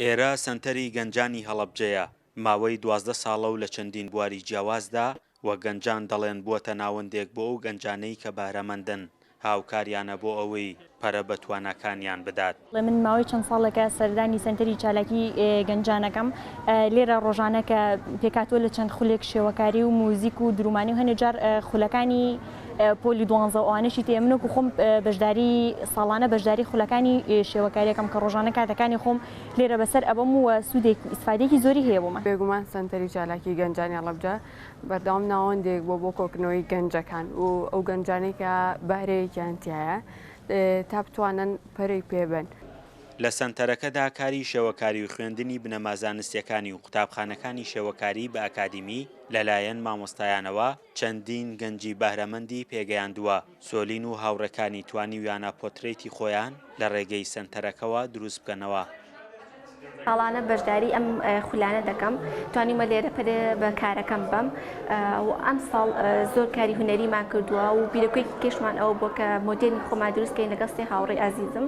ئێرە سەنتەری گەنجانی هەڵەبجەیە، ماوەی دوازدە ساڵە و لە چەندین بواری جیاوازدا وەک گەنجان دەڵێن بووەتە ناوەندێک بۆ ئەو گەنجانەی کە بەهرەمەندن، هاوکاریانە بۆ ئەوەی پەرە بە تواناکانیان بدات. من ماوەی چەند ساڵێکە سەردانی سەنتەری چالاکی گەنجان ئەکەم، لێرە ڕۆژانە کە پێکهاتووە لە چەند خولێک شێوەکاری و موزیک و درومانی و هەنێ جار خولەکانی پۆلی دوانزە و ئەوانەشی تێ من وەکو خۆم بەشداری ساڵانە بەشداری خولەکانی شێوەکاریەکەم کە ڕۆژانە کاتەکانی خۆم لێرە بەسەر ئەبم و سوودێک ئیسفادێکی زۆری هەیە بۆ من بێگومان سەنتەری چالاکی گەنجانی هەڵەبجە بەردەوام ناوەندێک بۆ بۆ کۆکنەوەی گەنجەکان و ئەو گەنجانی کە بەهرەیەکیان تایە تا بتوانن پەرەی پێبن. لە سەنتەرەکەدا کاری شێوەکاری و خوێندنی بنەما زانستیەکانی و قوتابخانەکانی شێوەکاری بە ئەکادیمی لەلایەن مامۆستایانەوە چەندین گەنجی بەهرەمەندی پێگەیاندووە. سۆلین و هاوڕێکانی توانیویانە پۆترەیتی خۆیان لە ڕێگەی سەنتەرەکەوە دروست بکەنەوە. ساڵانە بەشداری ئەم خولانە دەکەم، توانیومە لێرە پەرێ بە کارەکەم بەم و ئەمساڵ زۆر کاری هونەریمان کردووە و بیرۆکەیەکی کێشمان ئەوە بووە کە مۆدێلی خۆمان دروست بکەین لەگەڵ سێ هاوڕێی ئازیزم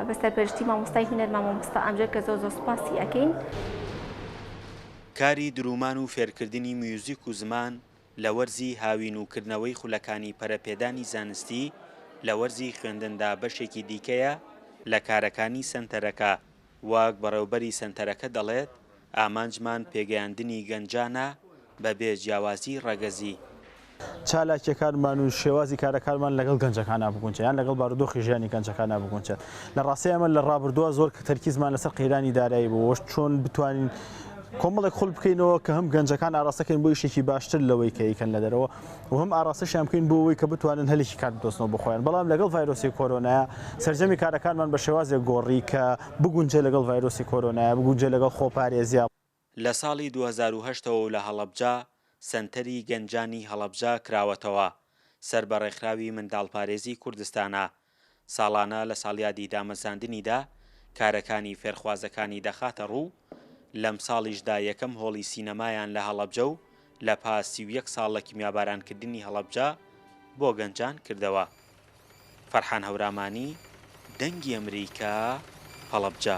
بە سەرپەرشتی مامۆستای هونەرمان مامۆستا ئەمجەد کە زۆر زۆر سوپاسی ئەکەین. کاری دروومان و فێرکردنی میوزیک و زمان لە وەرزی هاوین و کردنەوەی خولەکانی پەرەپێدانی زانستی لە وەرزی خوێندندا بەشێکی دیکەیە لە کارەکانی سەنتەرەکە، وەک بەڕێوبەری سەنتەرەکە دەڵێت، ئامانجمان پێگەیاندنی گەنجانە بەبێ جیاوازی ڕەگەزی. چالاکییەکانمان و شێوازی کارەکانمان لەگەڵ گەنجەکانا بگونجێ یان لەگەڵ بارودۆخی ژیانی گەنجەکانا بگونجێت. لە ڕاستیدا ئێمە لە ڕابردووە زۆر تەرکیزمان لەسەر قەیرانی دارایی بوو و چۆن بتوانین کۆمەڵێک خول بکەینەوە کە هەم گەنجەکان ئاراستەکەین بۆ یشێکی باشتر لەوەی کە یکەن لە دەرەوە و هەم ئاراستەشیان بکەین بۆ ئەوەی کە بتوانن هەلێکی کار بدۆزنەوە بۆ خۆیان بەڵام لەگەڵ ڤایرۆسی کۆرۆنایە سەرجەمی کارەکانمان بە شێوازێک گۆڕی کە بگونجێ لەگەڵ ڤایرۆسی کۆرۆنایە بگونجێ لەگەڵ خۆپارێزیا لە ساڵی دوو هەزار و هەشت ەوە و لە هەڵەبجە سەنتەری گەنجانی هەڵەبجە کراوەتەوە سەر بە ڕێکخراوی منداڵپارێزی کوردستانە ساڵانە لە ساڵیادی دامەزراندنیدا کارەکانی فێرخوازەکانی دەخاتە ڕوو لەمساڵیشدا یەکەم هۆڵی سینەمایان لە هەڵەبجە و لە پاس سی و یەک ساڵ لە کیمیابارانکردنی هەڵەبجە بۆ گەنجان کردەوە فەرحان هەورامانی، دەنگی ئەمریکا، هەڵەبجە.